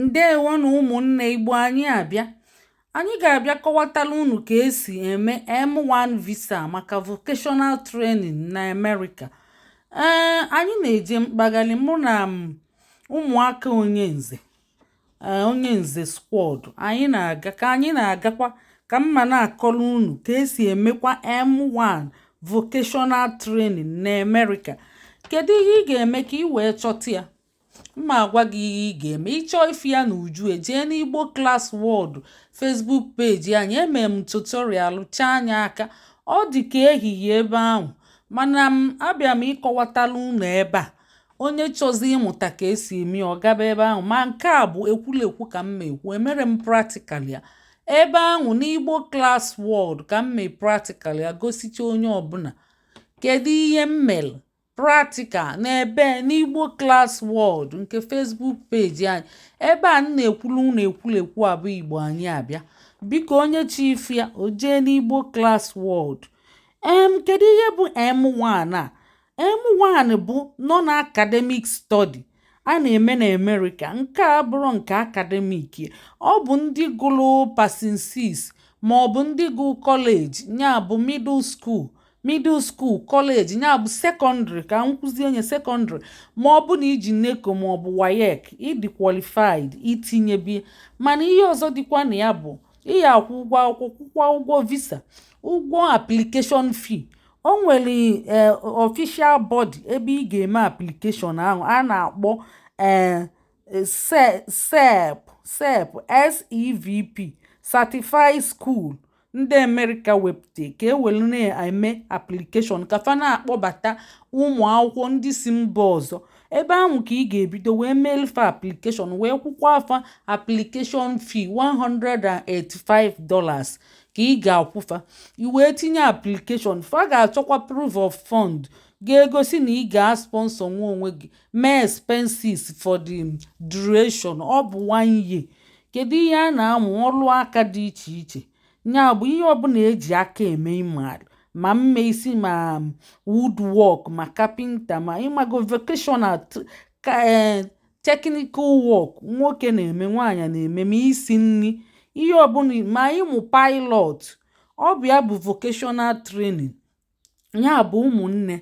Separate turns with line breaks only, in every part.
ndewo nụ ụmụnne igbo anyị abịa anyị ga-abịa kọwatala unu ka esi eme m1 visa maka vocational training na amerịka ee anyị na-eje mkpagalị mụ na ụmụaka onye nze e, onye nze squad anyị na-aga ka anyị na-agakwa ka m ma na-akọrọ unu ka esi emekwa m1 vocational training na amerịka kedu ihe ị ga-eme ka ị wee chọta ya M ma agwa gị ihe ị ga-eme. Ị chọọ ịfụ ya n'uju e, jee n'Igbo Class World Facebook page anyị. Emere m tutorial chaa anya aka. Ọ dị ka ehihie ebe ahụ. Mana m abịa m ịkọwatala unu ebe a. Onye chọzi ịmụta ka esi eme ọ gaba ebe ahụ. Ma nke a bụ ekwulekwu ka m ma ekwu. Emere m practical ya. Ebe ahụ n'Igbo Class World ka m mee practical ya gosicha onye ọbụla. Kedu ihe m mere? Practical n'ebe n'Igbo Class World nke Facebook page anyị. Ebe a m na-ekwulu unu ekwulekwu a bụ Igbo anyị abịa. Biko onye chọ ịfụ ya, o jee n'Igbo Class World. Em, kedu ihe bụ M1 a? M1 bụ Non-Academic Study. a na-eme n'Amerịka nke abụrọ nke academic ọ bụ ndị gụrụ passing six ma ọ bụ ndị gụrụ college nya bụ middle school middle school college nya bụ secondary ka m kwuzie nya secondary ma ọ bụ na i ji NECO ma ọ bụ WAEC ị dị qualified itinyebi mana ihe ọzọ dịkwa na ya bụ ị ya-akwụ ụgwọ akwụkwọ kwụkwa ụgwọ visa ụgwọ application fee o nwere ee eh, official body ebe ị ga-eme application ahụ a na-akpọ ee eh, eh, SEP SEP SEVP Certified School ndị Amerịka wepụta ka e were na-eme application ka fa na-akpọbata ụmụ akwụkwọ ndị si mba ọzọ ebe ahụ ka ị ga-ebido wee meelu fa application wee kwụkwaa fa application fee $185 ka ị ga-akwụ fa i wee tinye application fa ga-achọkwa proof of fund ga-egosi na ị ga-asponsor nwu onwe gị mee expenses for the duration ọ bụ one year kedu ihe a na-amụ ọrụ aka dị iche iche nya bụ ihe ọbụla eji aka eme ị mara ma ime isi ma woodwork ma kapịnta ma ị mago vocational ka eh, technical work nwoke na-eme nwaanyị na-eme ma isi nri ihe ọbụla ma ịmụ pilot ọ bụ ya bụ vocational training ya bụ ụmụnne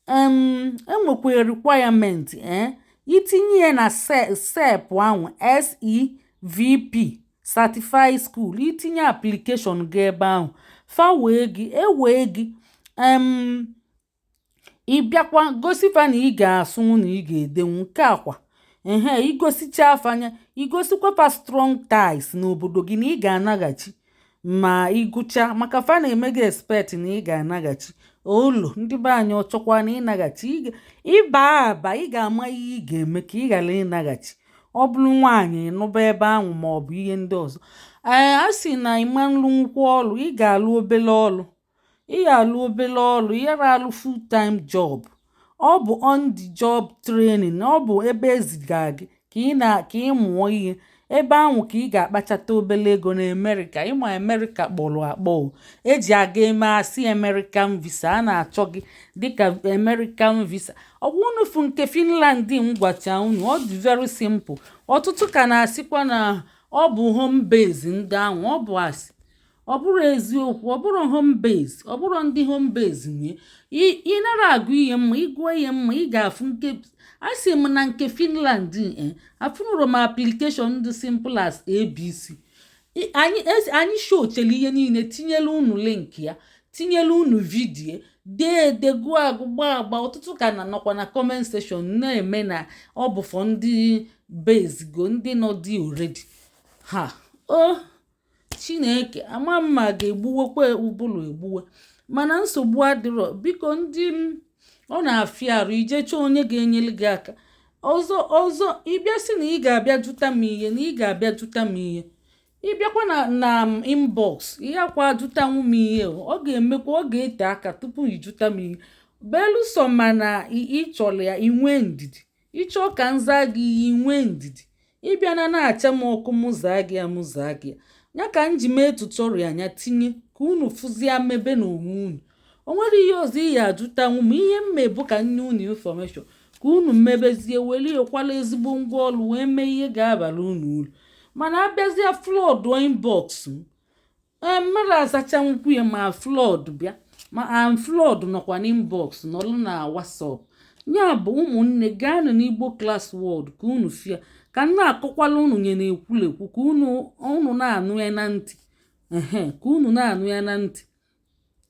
um enwekwara requirement eh i tinye ya na sep ahụ sevp certified school i tinye application gị ebe ahụ fa wee gị e wee gị um ị bịakwa gosi fa na ị ga-asụnwu na ị ga-edenwu nke a kwa ehe i gosicha fa nya i gosikwa fa strong ties n'obodo gị na ị ga-anaghachi ma ị gụcha maka fa na-eme gị expect na ị ga-anaghachi olu ndị be anyị ọchọkwa na ịnaghachi ị ba aba ị ga-ama ihe ị ga-eme ka ị ghara ịnaghachi ọ bụrụ nwaanyị nụba ebe ahụ ma ọ bụ ihe ndị ọzọ ee a sị na ị ma nlụnwu ọlụ ị ga-alụ obele ọlụ ị ya alụ obele ọlụ ị yara alụ full time job ọ bụ on the job training ọ bụ ebe e ziga gị ka ị na ka ị mụọ ihe ebe ahụ ka ị ga-akpachata obele ego na america ị ma america kpọrọ akpọ eji aga eme asị american visa a na-achọ gị dịka american visa ọ bụ unu fụ nke finland m gwacha unu ọ dị very simple ọtụtụ ka na-asịkwa na ọ bụ home base ndị ahụ ọ bụ asị ọ bụrọ eziokwu ọ bụrọ home base ọ bụrọ ndị home base nye ị nara agụ ihe mma ị gụọ ihe mma ị ga-afụ nke a sị m na nke Finland e eh, afụnụrọ m application dị simple as abc anyị showchara ihe niile tinyela unu link ya tinyela unu video dee ede gụọ agụ gbaa agba ọtụtụ ka na nọkwa na comment section na-eme na ọ bụ for ndị base go ndị nọ dị already ha o oh. chineke ama m ma ga-egbuwekwa ụbụrụ egbuwe mana nsogbu adịrọ biko ndị m ọ na-afịa arụ ije chọọ onye ga-enyere gị aka ọzọ ọzọ ị bịa sị na ị ga-abịa jụta m ihe na ị ga-abịa jụta m ihe ị bịakwa na na inbox ị yakwa ajụtanwu m ihe ọ ga-emekwa ọ ga-ete aka tupu ị jụta m ihe belụsọ ma na ị chọrọ ya i nwee ndidi ị chọọ ka m zaa gị ihe i nwee ndidi ị bịa na na-acha m ọkụ mụ zaa gị ya mụ zaa gị ya ya ka m ji mee tutorial nya tinye ka unu fụzie mebe na onwe unu o nwere ihe ọzọ ị ya-ajụtanwu m ihe m mebụ ka m nye unu information ka unu mebezie were ekwala ezigbo ngwa ọlụ wee mee ihe ga-abala unu ulu mana a bịazie flood inbox m mmadụ azachanwu ya ma flood bịa ma am flood nọkwa n'inbox nọlụ na whatsapp ya bụ ụmụnne gaanụ n'igbo class world ka unu fụ ya ka m na-akọkwala unu nya n'ekwulekwu ka unu na-anụ ya na ntị ka unu na-anụ ya na ntị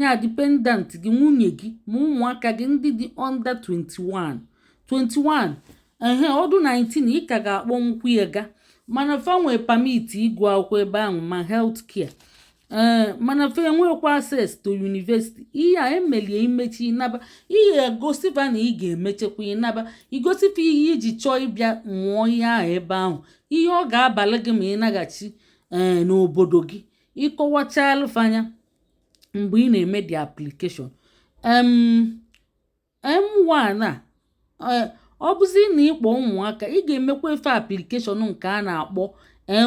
ya dependent gị nwunye gị ma ụmụaka gị ndị dị under 21 21 ehe ọ dị 19 ị ka ga-akpọnwu ya ga mana fa nwee permit ịgụ akwụkwọ ebe ahụ ma health care ee eh, mana fa enwekwa access to university ihe a emelie i mechaa ị naba ị ya-egosi fa na ị ga-emechakwa ị naba i gosi fa ihe i ji chọọ ịbịa mụọ ihe ahụ ebe ahụ ihe ọ ga-abalụ gị ma ị naghachi ee eh, n'obodo gị ị kọwachalụ fa nya mgbe ị na-eme the application um M1 a eh, ọ bụzi na ị kpọ ụmụaka ị ga-emekwa fa application nke a na-akpọ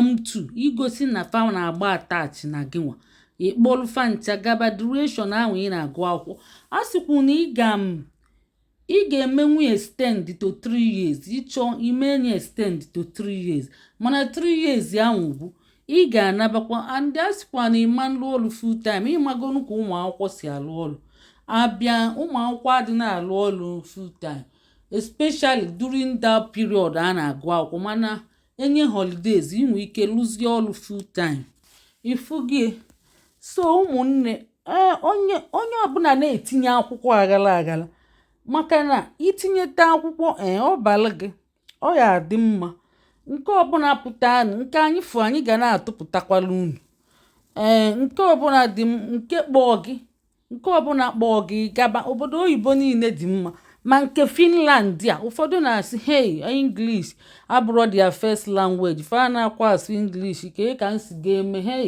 M2 igosi na fa na-agba attach na gị nwa ị kpọlụ fa ncha gaba duration ahụ ị na-agụ akwụkwọ a sịkwu na ị ga ị ga-emenwu extend to 3 years ị chọọ ime nye extend to 3 years mana 3 years ahụ bụ ị ga-anabakwa and a sịkwa na ị ma nlụ ọrụ full time ị magonu ka ụmụ akwụkwọ si alụ ọrụ a bịa ụmụ akwụkwọ adị na-alụ ọrụ full time especially during that period a na-agụ akwụkwọ mana e nye holidays i nwee ike lụzie ọrụ full time ị fụgo ya so ụmụnne ee onye onye ọbụla na-etinye akwụkwọ aghala aghala maka na i tinyeta akwụkwọ ee ọ balụ gị ọ ya-adị mma nke ọbụla pụta nke anyị fụ anyị ga na-atụpụtakwalụ unu ee nke ọbụla dị nke kpọọ gị nke ọbụla kpọọ gị gaba obodo oyibo niile dị mma ma nke finland a ụfọdụ na-asị hey english abụrọ their first language fa na-akwa asụ english kee ka m si ga-eme hey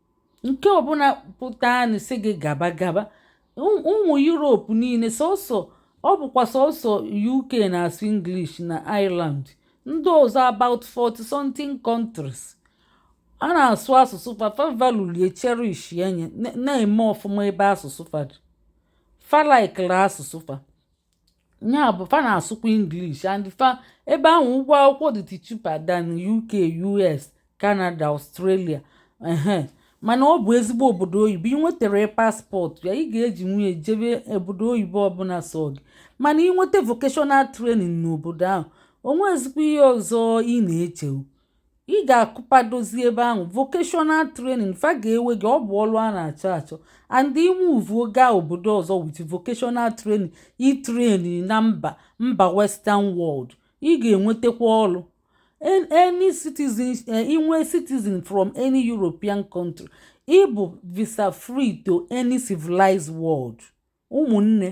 nke ọbụla pụtanụ sị gị gaba gaba ụmụ europe niile sọsọ ọ bụkwa sọsọ uk na-asụ english na ireland ndị ọzọ about 40 something countries a na-asụ asụsụ fa fa valulie cherish ya nye na-eme ọfụma ebe asụsụ fa dị fa likelụ asụsụ fa ya bụ fa na-asụkwa English and fa ebe ahụ ụgwọ akwụkwọ dị cheaper than UK US Canada Australia ehe mana ọ bụ ezigbo obodo oyibo ị nwetara passport ya ị ga-ejinwu ya jebe obodo oyibo ọbụla sọọ gị mana ị nweta vocational training n'obodo ahụ o nwe ezigbo ihe ọzọ ị na-eche ị ga-akụpadozi ebe ahụ vocational training fa ga-ewe gị ọ bụ ọrụ a na-achọ achọ and i moveuo gaa obodo ọzọ with vocational training ị train na mba mba western world ị ga-enwetakwa ọrụ any citizen eh, i nwee citizen from any european country ị bụ visa free to any civilized world ụmụnne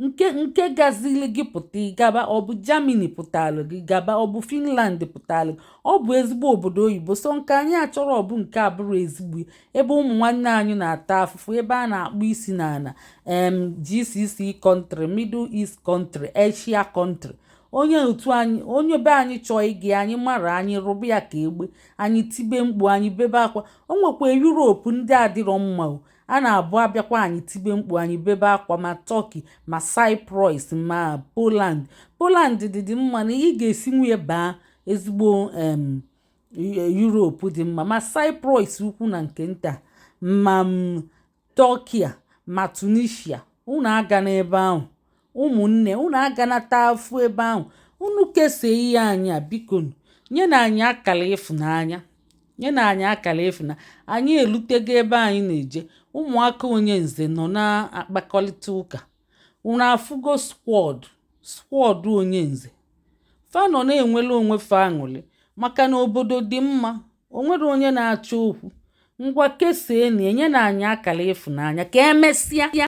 nke nke gazili gị pụta gaba ọ bụ Germany pụtalụ gị gaba ọ bụ Finland pụtalụ gị ọ bụ ezigbo obodo oyibo so nke anyị achọrọ ọ bụ nke abụrọ ezigbo ebe ụmụ nwanne anyị na-ata afụfụ ebe a na-akpọ isi n'ala em GCC country Middle East country Asia country onye otu anyị onye be anyị chọọ ịga anyị mara anyị rụba ya ka egbe anyị tibe mkpu anyị bebe akwa o nwekwa Europe ndị adịrọ mma o a na-abụ a bịakwa anyị tibe mkpu anyị bebe akwa ma turkey ma cyprus ma poland poland dịdị mma na ị ga-esi nwunye baa ezigbo europe dị mma ma cyprus ukwu na nke nta ma turkey ma tunisia unu aga n'ebe ahụ ụmụnne unu aga na-ata afụ ebe ahụ unu kesaa ihe anyị a biko nyenụ anyị akara ịfụnanya anyị elutego ebe anyị na-eje ụmụaka onyenze nọ na-akpakọlịta ụka unu afụgo squad onyenze fa nọ na-enwele onwe fa aṅụlị maka na obodo dị mma o nwerọ onye na-achọ okwu ngwa kesaanị nyenụ anyị akara ịfụnanya ka emesịa